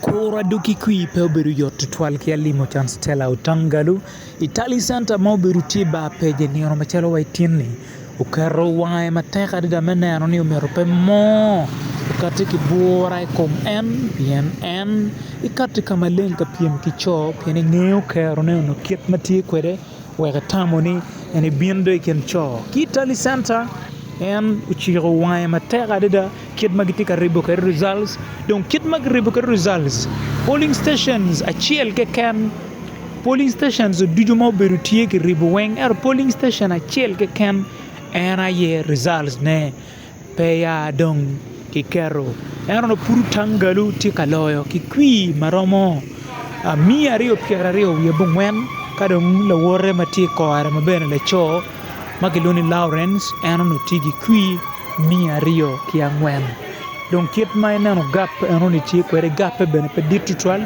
Kura dok ki kwir pe obedo yot tutwal ki alimo can Stella Otangalu i Tally Centre ma obedo tye bar pej i nino macalo wa ityen-ni oketo wange matek adada me neno ni omyero pe mo okati ki bwura i kom en pien en ekati ka maleng ka pyem ki co pien engeyo kerone onongo kit ma tye kwede wek etamo ni en ebin do i kin co ki i Tally Centre en ociko wange matek adada Kit ma gitye ka ribo kwede results, Dong kit ma kiribo kwede results, polling stations acel keken, polling stations ducu ma obedo tye kiribo weng ento polling station acel keken en aye results ne pe ya dong kiketo ento dong pud Otangalu tye ka loyo ki kwir ma romo miya aryo pyeraryo wiye bongwen ka dong lawote ma tye kore ma bene laco ma kilwongo ni Lawrence en onongo tye ki kwi miya aryo ki angwen dong kit ma ineno gap en onongo tye kwede gape bene pe dit tutwal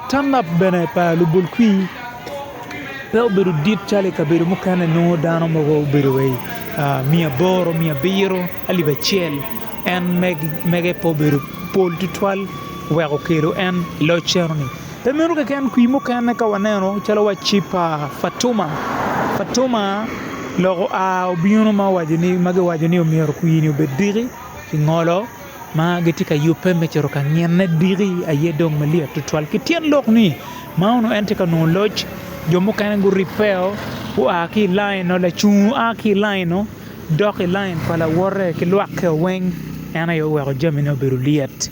turnup bene pa lubol kwi pe obedo dit calo i kabedo mukene nongo dano mogo obedo wa i miya aboro, miya abiro, alip acel en mege pe obedo pol tutwal wek okelo en loc enoni. Pe meno keken, kwir mukene ka waneno calo wacci pa Fatuma, Fatuma lok oa obino ma owaco ni ma giwaco ni omyero kwir-ni obed diki ki ngolo ma gitye ka yubbe me cito ka ngine diki aye dong malyet tutwal. Ki tyen lok ni ma onongo en tye ka nongo loc, jo mukene guribbeo gua ki i lainno, lacungo a ki i lainno dok i lain pa lawote ki lwakke weng, en aye oweko jamine obedo lyet.